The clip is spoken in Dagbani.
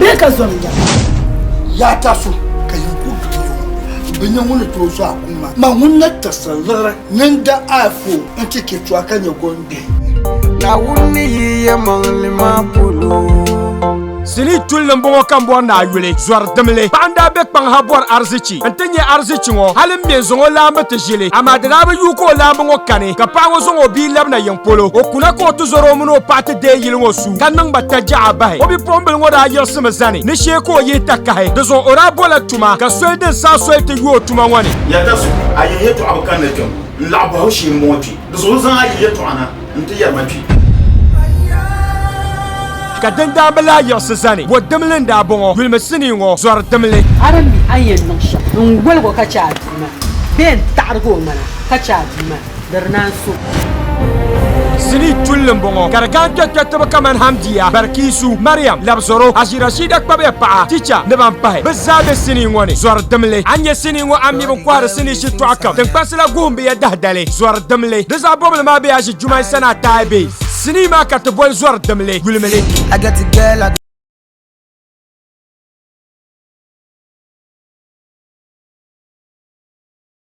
Bɛ ka zom ya. Yaa tasu ka yin ku duli ŋɔ bi nyɛ ŋun ni tooi zɔhi kum maa. Ma ŋun na tiɣisiri liɣiri ni n da a foo n ti chɛ tuwa ka nyɛ gɔnbihi. Naawuni ni yi ya maŋli maa polo. Sinii tulli n bɔŋɔ ka n bɔri ni a yuli zɔri dimli. Paɣa n daa be kpaŋ ha bɔri arizichi n ti nya arizichi ŋɔ hali m mi n zaŋ o laambu ti ʒili. Amaa di daa bi yuui ka o laambu ŋɔ kani ka paɣa ŋɔ zaŋ o bia labina yiŋ polo. O kuna ka o ti zɔri o mini o paɣa ti deei yili ŋɔ su. ka niŋ ba tajaɣa bahi o bipuɣimbili ŋɔ daa yiɣisimi zani ni shee ka o yihi takahi di zuɣu o daa bola tuma ka soli din saa soli ti yo o tuma ŋɔ ni Yɛlita zuɣu a yihi yɛtɔɣa bi kanli kpɛm n laɣi bɔhi o shee m-bɔŋɔ kpe di zuɣu n zaŋ a yihi yɛtɔɣa na n ti yɛri ma kpe. ka din daa bi lahi yiɣisi zani bɔ dimli n daa bɔŋɔ yulimi sinii ŋɔ zɔri dimli. A di mi a ni yɛn niŋ shɛm n woligi o ka chɛ a bia maa bee n taɣirigi o ŋmana ka chɛ a bia maa? di di naan so. Sinii tulli n bɔŋɔ ka di gari kpɛkpɛtiba kamani Hamdiya, Barkisu, Mariam, Labzoro, Haji Rashida kpabiya paɣa, Ticha ni ban pahi. Bɛ zaa be sinii ŋɔ ni. Zɔri dimli. A ni nya sinii ŋɔ a ni mi bɛ ni kɔhiri sinii shitɔɣu kam. Tiŋkpansi la guhim bɛ ya dahidali. Zɔri dimli. Di zaɣ bɔbili maa be Haji Jumai Sanaa Taai Bey. Sinii maa ka ti boli zɔri dimli, yulimili.